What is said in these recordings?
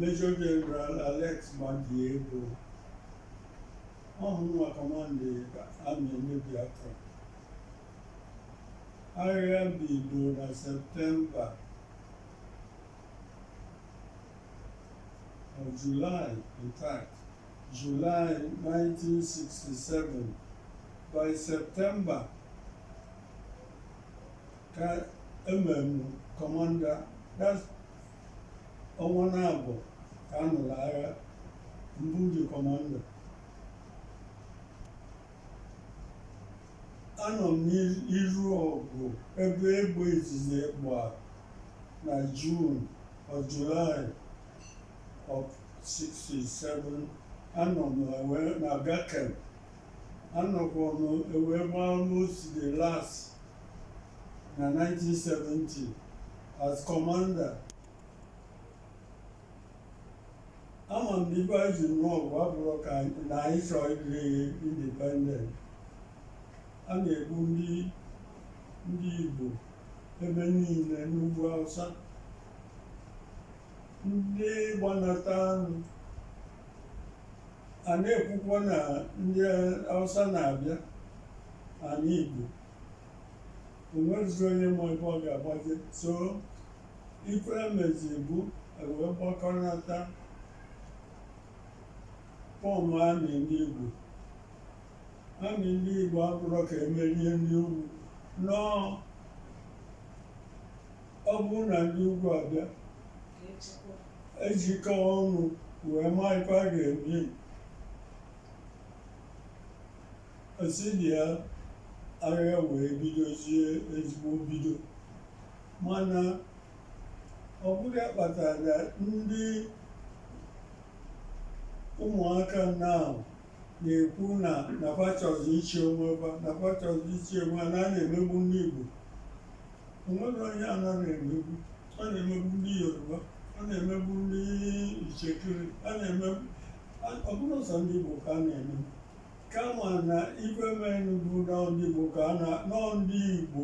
Major General Alex Madiebo ọ bụ mụ nwa kọmanda amị ndị Biafra agha bido na Septemba or July in fact, July 1967, by September ka e me m commander that's ọnwa naabọ ka a nụrụ agha m bụzi commander anọ m n'iru ọgụ ebe egbe izizi gba na Jun or Julaị of 67 anọ m na Gakem anọkwa m wee gbaa almost the last na 1970 as commander ama m na ife anyị ji nụọ ọgụ abụrọ ka na anyị chọọ ịdị independent a na-egbu ndị Igbo ebe niile n'ugwu Hausa ndị gbanatanụ a na-ekwukwa na ndị Hausa na-abịa ana Igbo o nwezirọ onye ma ebe ọ ga-agbaje so Ife emezi bụ ewee gbakọnata fọm amị ndị Igbo amị ndị Igbo abụrọ ka e merie ndị ugwu no ọ bụrụ na ndị ugwu abịa ejikọ ọnụ wee maa ife a ga-eme esi dị ya agha wee bidozie ezigbo bido mana ọ bụrụ ya kpatara na ndị ụmụaka na na-ekwu na fa chọzi ịchị onwe fa na fa chọzi ịchị onwe ha na a na-emegbu ndị Igbo o nwere onye a na-ana emegbu a na-emegbu ndị Yoruba a na-emegbu ndị Itsekiri a na-emegbu a- ọ bụrọ sọ ndị Igbo ka a na-emegbu kama na ife menụ bụ na ndị Igbo ka a na nọ ndị Igbo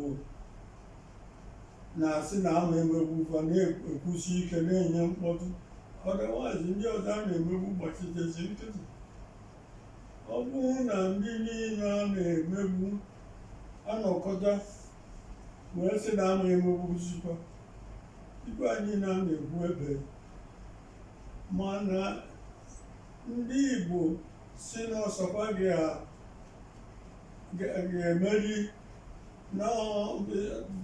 na-asị na ama emegbu fa na-ekwusi ike na-enye mkpọtụ otherwise ndị ọzọ a na-emegbu gbachitezi nkịtị ọ bụrụ na ndị niile a na-emegbu anọkọta wee sị na ama emegbuzikwa ibe anyị na na-egbu ebe mana ndị Igbo sị na ọ sọ fa ga-emeri na ọ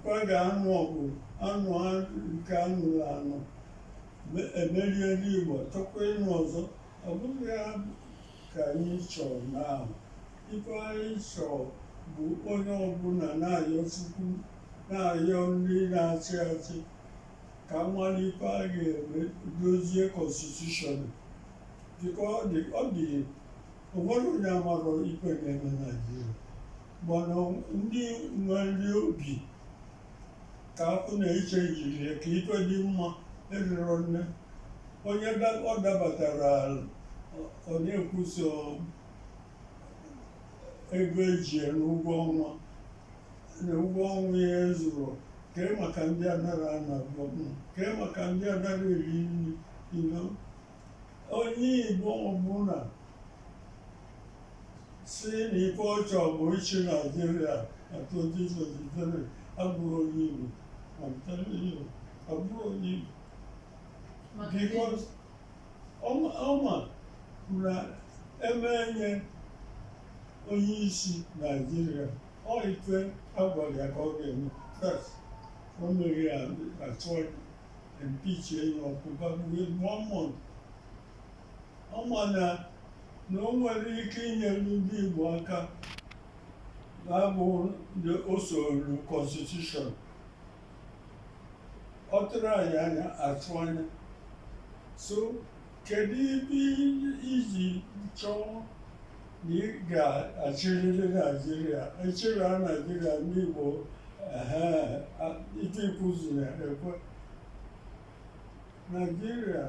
fa ga-anụ ọgụ anụa nke anụrụ anụ emerie ndị Igbo chọkwa ịnụ ọzọ ọ bụghị ya ka anyị chọrọ now ife anyị chọrọ bụ onye ọbụla na-ayọ Chukwu na-ayọ ndị na-achị achị ka a mara ife a ga-eme dozie constitution because ọ dị ọ dị o nwerọ onye amarọ ife na-eme Naijiria mana ndị nwere obi ka afọ na-eche jiri ya ka ife dị mma erirọ nne onye da- ọ dabatara ọ na-ekwu sọ ego eji ya n'ụgwọ ọnwa na ụgwọ ọnwa ya ezurọ kee maka ndị anarọ ana ụgwọ kee maka ndị anarọ eri nri you know? onye Igbo ọbụla sị na ife ọ chọ bụ ịchị Naijiria na 2023 abụrọ onye Igbo I'm telling you, abụrọ onye Igbo because ọ ma ọ ma na e mee ya onye isi Naijiria ọ ife a gwara ya ka ọ ga-eme once o merọ ya achọ impeachie ya ọkụ bagbuo mmụọ ọ ma na na o nwerọ ike inyere ndị Igbo aka na-abụghị usoro constitution otu anyị na-atụ anya so Kedu ife i ji chọọ na ị ga-achịrịrị Naijiria ị chịrịa Naijiria ndị Igbo ife i kwuziri ekwe Naijiria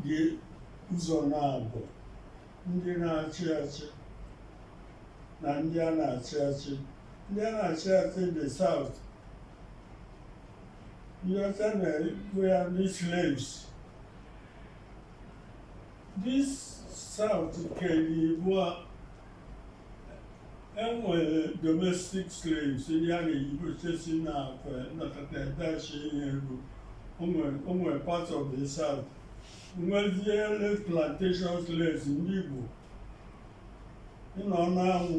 dị ụzọ naabọ ndị na-achị achị na ndị a na-achị achị ndị a na-achị achị the South This South kere ibụa enwere domestic slaves ndị a na-eyigochesi na akwa nnọkọta dachi ihe ego o nwere part of the South nwezie plantation slaves ndị Igbo ịnọ n'anwụ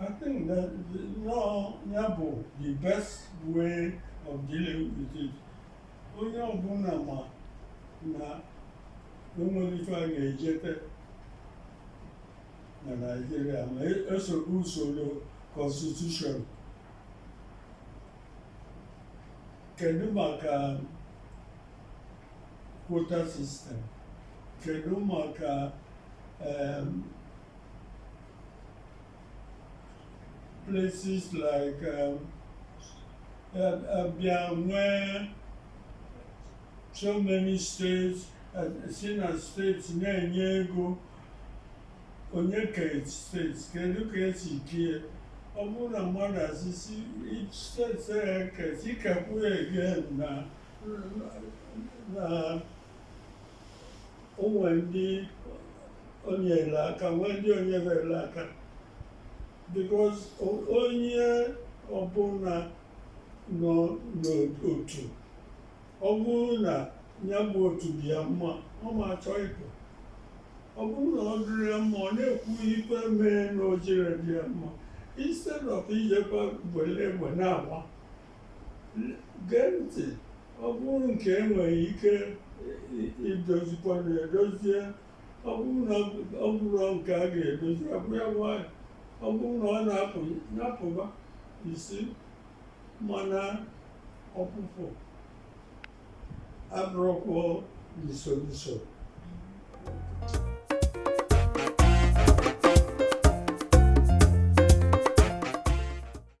I think that no, ya bụ the best way of dealing with it. Onye ọbụla ma na enwere ife a ga-ejete na Nigeria ma esoro usoro constitution. Kedu maka quota system? Kedu maka um, places like um, Abia, where so many states, uh, seen as states na-enye ego onye ka states kedu ka esi kie ọ bụrụ na mmadụ asịsị states e kee ikekwu ya again na o nwe ndị o nyere aka nwee ndị o nyere aka because onye ọbụla nọ n'otu ọ bụrụ na ya bụ otu dị ya mma ọ ma achọ ịpụ ọ bụrụ na ọ dịrọ ya mma ọ na-ekwu ife mee na o jirọ dị ya mma instead of ijekwa were egbe na-agba gee ntị ọ bụrụ nke enweghị ike idozikwa na edozie ọ bụrụ na ọ bụrụ nke a ga-edozi abụ ya nwayọ ọ bụrụ na ọ na-apụ na-apụba isi mana ọpụpụ abụrọkwa the solution